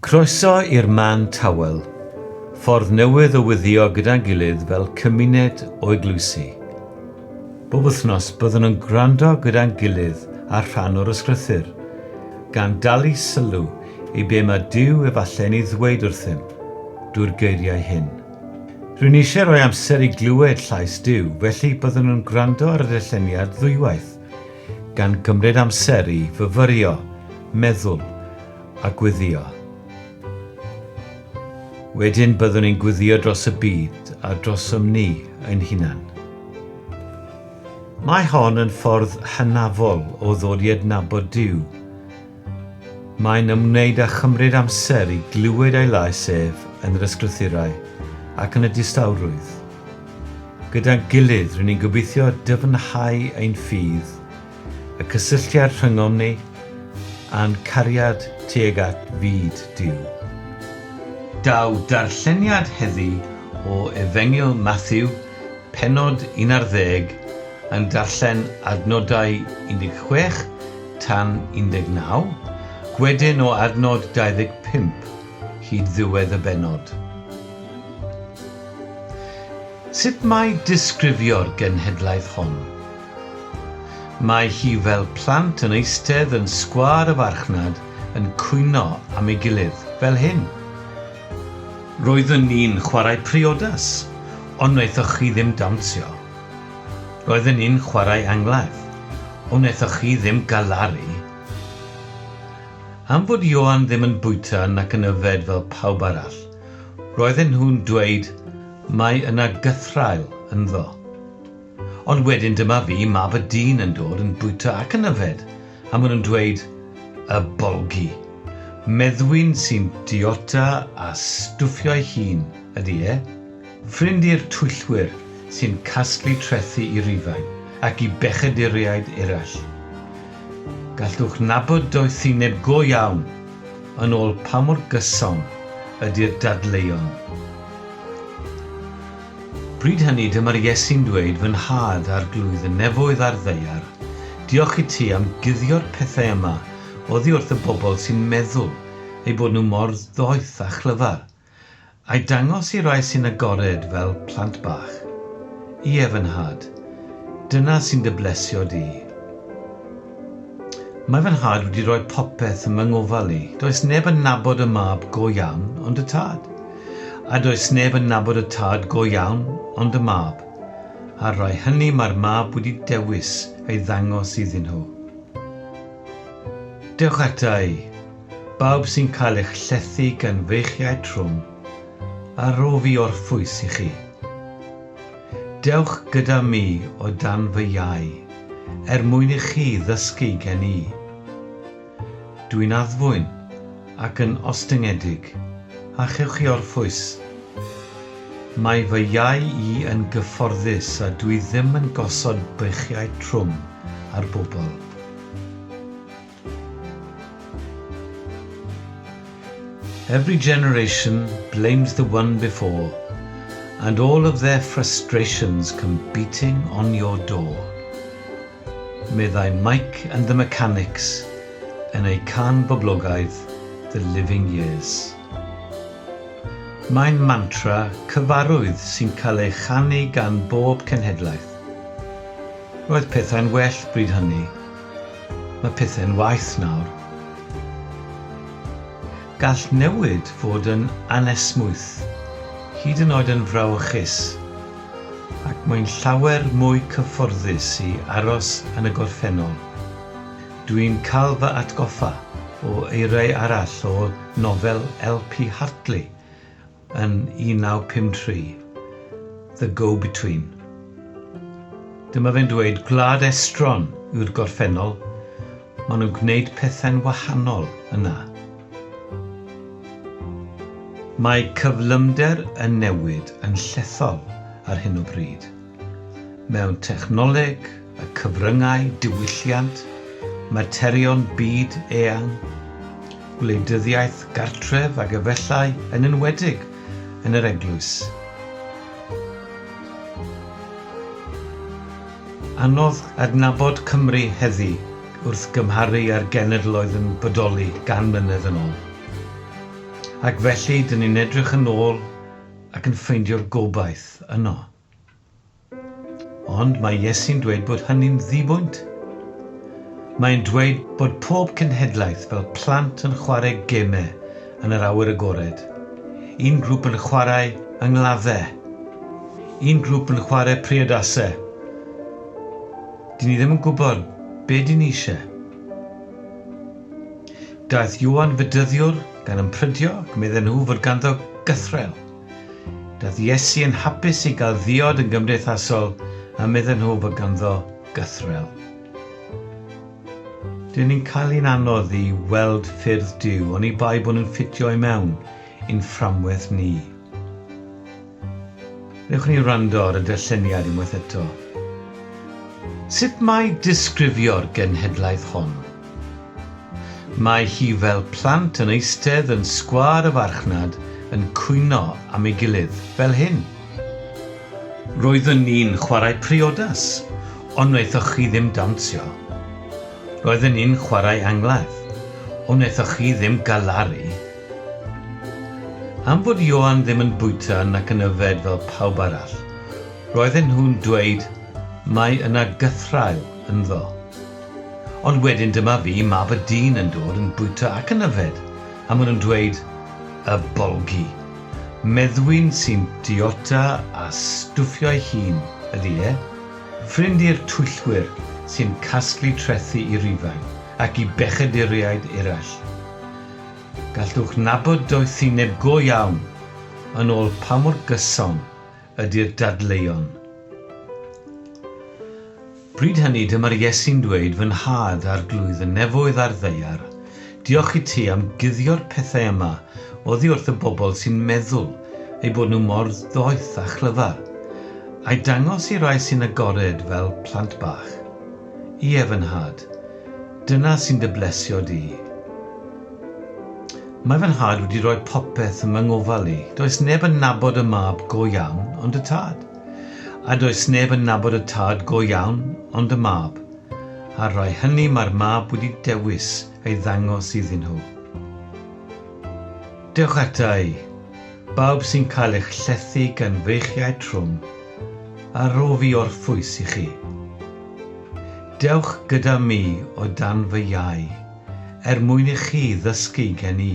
Croeso i'r man tawel, ffordd newydd o wyddio gyda'n gilydd fel cymuned o eglwysi. Bob wythnos byddwn yn gwrando gyda'n gilydd ar rhan o'r Ysgrythur, gan dalu sylw i be mae Duw efallai yn ei ddweud wrthym drwy'r geiriau hyn. Rwy'n eisiau rhoi amser i glywed llais Duw, felly byddwn yn gwrando ar y darlleniad ddwywaith, gan gymryd amser i fyfyrio, meddwl, a gweddïo. Wedyn byddwn ni'n gweddïo dros y byd a drosom ni ein hunan. Mae hon yn ffordd hynafol o ddod i adnabod Duw. Mae'n ymwneud â chymryd amser i glywed ei lais ef yn yr ysgrythurau ac yn y distawrwydd. Gyda'n gilydd, rŷn ni'n gobeithio dyfnhau ein ffydd y cysylltiad rhyngom ni, a'n cariad tuag at fyd Duw. Daw darlleniad heddi o Efengyl Mathew, pennod 11, yn darllen adnodau 16 tan 19, gwedyn o adnod 25 hyd ddiwedd y bennod. Sut mae disgrifio'r genhedlaeth hon? Mae hi fel plant yn eistedd yn sgwâr y farchnad yn cwyno am ei gilydd, fel hyn. Roeddwn ni'n chwarae priodas, ond wnaethoch chi ddim dawnsio. Roedden ni'n chwarae angladd, ond wnaethoch chi ddim galaru. Am fod Ioan ddim yn bwyta nac yn yfed fel pawb arall, roedden nhw'n dweud 'mae yna gythraul ynddo'. Ond wedyn dyma fi, mab y dyn yn dod yn bwyta ac yn yfed, a ma nhw'n dweud, Y bolgi. Meddwyn sy'n diota a stwffio'i hun ydy e. Ffrind i'r twyllwyr sy'n casglu trethi i Rufain ac i bechaduriaid eraill. Gallwch nabod doethineb go iawn yn ôl pa mor gyson ydy'r dadleuon. Bryd hynny dyma'r Iesu'n dweud fy nhad arglwydd y nefoedd a'r ddaear, diolch i ti am guddio'r pethau yma oddi wrth y bobl sy'n meddwl eu bod nhw mor ddoeth a chlyfar, a'i dangos i rai sy'n agored fel plant bach. Ie, fy nhad, dyna sy'n dy blesio di. Mae fy nhad wedi rhoi popeth yn fy ngofal i. Does neb yn nabod y mab go iawn ond y tad. A does neb yn nabod y tad go iawn ond y mab. A'r rai hynny mae'r mab wedi dewis ei ddangos iddyn nhw. Dewch ata i, bawb sy'n cael eich llethu gan feichiau trwm, a rho fi orffwys i chi. Dewch gyda mi o dan fy iau, er mwyn i chi ddysgu gen i. Dwi'n addfwyn ac yn ostyngedig, a chewch chi orffwys. Mae fy iau i yn gyfforddus a dwi ddim yn gosod beichiau trwm ar bobl. Every generation blames the one before And all of their frustrations come beating on your door meddai Mike and the Mechanics yn eu cân boblogaidd The Living Years. Mae'n mantra cyfarwydd sy'n cael ei chanu gan bob cenhedlaeth. Roedd pethau'n well bryd hynny. Mae pethau'n waeth nawr. Gall newid fod yn anesmwyth, hyd yn oed yn frawychus, ac mae'n llawer mwy cyfforddus i aros yn y gorffennol. Dwi'n cael fy atgoffa o eiriau arall o nofel LP Hartley, yn 1953, The Go-Between. Dyma fe'n dweud, Gwlad estron yw'r gorffennol, maen nhw'n gwneud pethau'n wahanol yna. Mae cyflymder y newid yn llethol ar hyn o bryd. Mewn technoleg y cyfryngau diwylliant, materion byd eang, gwleidyddiaeth gartref ac efallai yn enwedig yn yr eglwys, anodd adnabod Cymru heddi wrth gymharu â'r genedloedd yn bodoli gan mlynedd yn ol. Ac felly dyn ni'n edrych yn ôl ac yn ffeindio'r gobaith yno. Ond mae Iesu'n dweud bod hynny'n ddibwynt. Mae'n dweud bod pob cenhedlaeth fel plant yn chwarae gemau yn yr awyr agored. Un grŵp yn chwarae yng ngladdau. Un grŵp yn chwarae priodasau. Dyn ni ddim yn gwybod be dyn ni eisiau. Daeth Ioan Fedyddiwr gan ymprydio ac medden nhw fod ganddo gythrel. Doedd Iesu yn hapus i gael ddiod yn gymdeithasol a medden nhw fod ganddo gythrel. Dyn ni'n cael ein anodd i weld ffyrdd Duw oni bai bod nhw'n ffitio i mewn i'n fframwaith ni. Newch ni wrando ar y darlleniad unwaith eto. Sut mae disgrifio'r genhedlaeth hon? Mae hi fel plant yn eistedd yn sgwâr y farchnad yn cwyno am ei gilydd, fel hyn. Roeddwn ni'n chwarae priodas, ond wnaethoch chi ddim dawnsio. Roedden ni'n chwarae angladd, ond wnaethoch chi ddim galaru. Am fod Ioan ddim yn bwyta nac yn yfed fel pawb arall, roedden nhw'n dweud, Mae yna gythraul ynddo. Ond wedyn dyma fi, mab y dyn, yn dod yn bwyta ac yn yfed, a ma' nhw'n dweud, 'Y bolgi! Meddwyn sy'n diota a stwffio'i hun ydi e. Ffrind i'r twyllwyr sy'n casglu trethi i Rufain ac i bechaduriaid eraill. Gallwch nabod doethineb go iawn yn ôl pa mor gyson ydy'r dadleuon. Bryd hynny dyma'r Iesu'n dweud fy nhad arglwydd y nefoedd a'r ddaear, diolch i ti am guddio'r pethau yma oddi wrth y bobl sy'n meddwl eu bod nhw mor ddoeth a chlyfar, a'i dangos i rai sy'n agored fel plant bach. Ie, fy nhad, dyna sy'n dy blesio di. Mae fy nhad wedi rhoi popeth yn fy ngofal i. Does neb yn nabod y mab go iawn ond y tad. A does neb yn nabod y tad go iawn ond y mab. A'r rai hynny mae'r mab wedi dewis ei ddangos iddyn nhw. Dewch ata i, bawb sy'n cael eich llethu gan feichiau trwm, a rhof i orffwys i chi. Dewch gyda mi o dan fy iau. er mwyn i chi ddysgu gen i.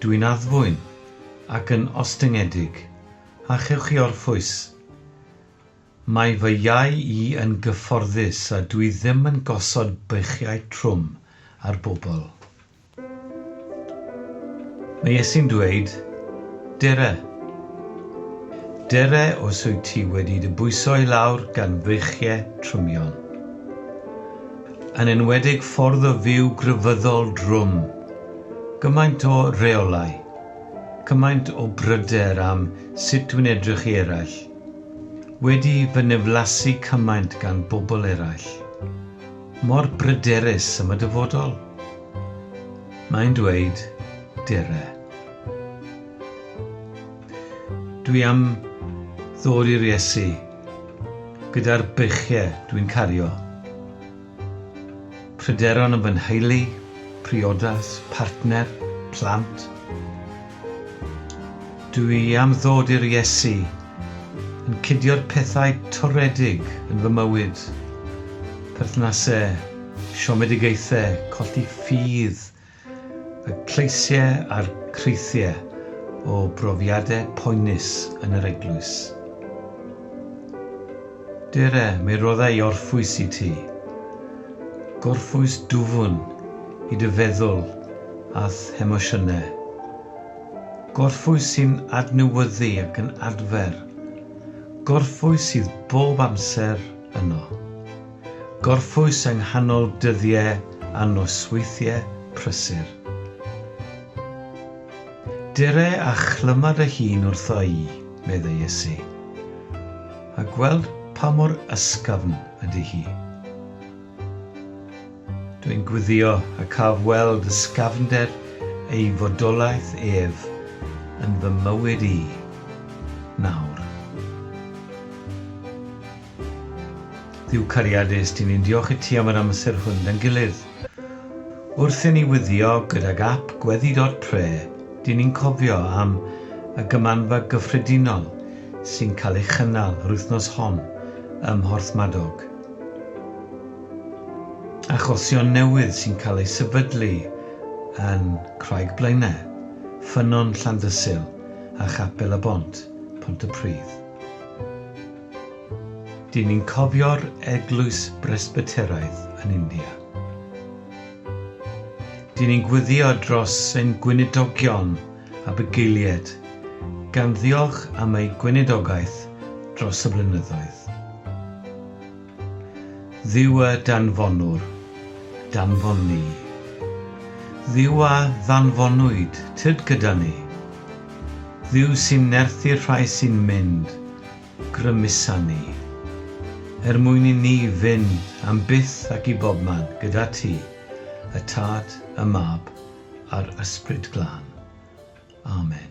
Dw i'n addfwyn ac yn ostyngedig, a chewch chi orffwys. Mae fy iau i yn gyfforddus a dw i ddim yn gosod beichiau trwm ar bobl. Mae Iesu'n dweud, Dere. Dere os wyt ti wedi dy bwyso i lawr gan feichiau trymion. yn enwedig ffordd o fyw grefyddol drwm, gymaint o reolau, cymaint o bryder am sut dwi'n edrych i eraill, wedi fy niflasu cymaint gan bobl eraill, mor bryderus am y dyfodol. Mae'n dweud, Dere. Dwi am ddod i'r Iesu. Gyda'r beichiau dwi'n cario pryderon am fy nheulu, priodas, partner, plant. Dw i am ddod i'r Iesu yn cudio'r pethau toredig yn fy mywyd, perthnasau, siomedigaethau, colli ffydd, Y cleisiau a'r creithiau o brofiadau poenus yn yr eglwys. Dere, mi rodda i orffwys i ti. Gorffwys dwfn i dy feddwl a'th hemosiynau. Gorffwys sy'n adnewyddu ac yn adfer. Gorffwys sydd bob amser yno. Gorffwys yng nghanol dyddie a nosweithie prysur. Dere a chlyma dy hun wrtho i, meddai Iesu, a gweld pa mor ysgafn ydy hi. Dw i'n gwyddio y caf weld ysgafnder ei fodolaeth ef yn fy mywyd i, nawr. Duw cariadus, dyn ni'n diolch i ti am yr amser hwn da'n gilydd. Wrth i ni wyddio gydag ap Gweddi Dot Pre, dyn ni'n cofio am y Gymanfa Gyffredinol sy'n cael ei chynnal yr wythnos hon ym Mhorthmadog. Achosion newydd sy'n cael eu sefydlu yn Craig Blaenau, Ffynnon Llandysul a Chapel y Bont, Pontypridd. Dyn ni'n cofio'r eglwys Bresbyteraidd yn India. Dyn ni'n gwyddio dros ein gweinidogion a bugeilied, gan ddiolch am eu gweinidogaeth dros y blynyddoedd. Dduw a danfonwr, danfon ni. Dduw a ddanfonwyd, tyd gyda ni. Dduw sy'n nerthu'r rhai sy'n mynd, grymusa ni, er mwyn i ni fyn am byth ac i bobman gyda ti, y Tad, y Mab, a'r Ysbryd Glân. Amen.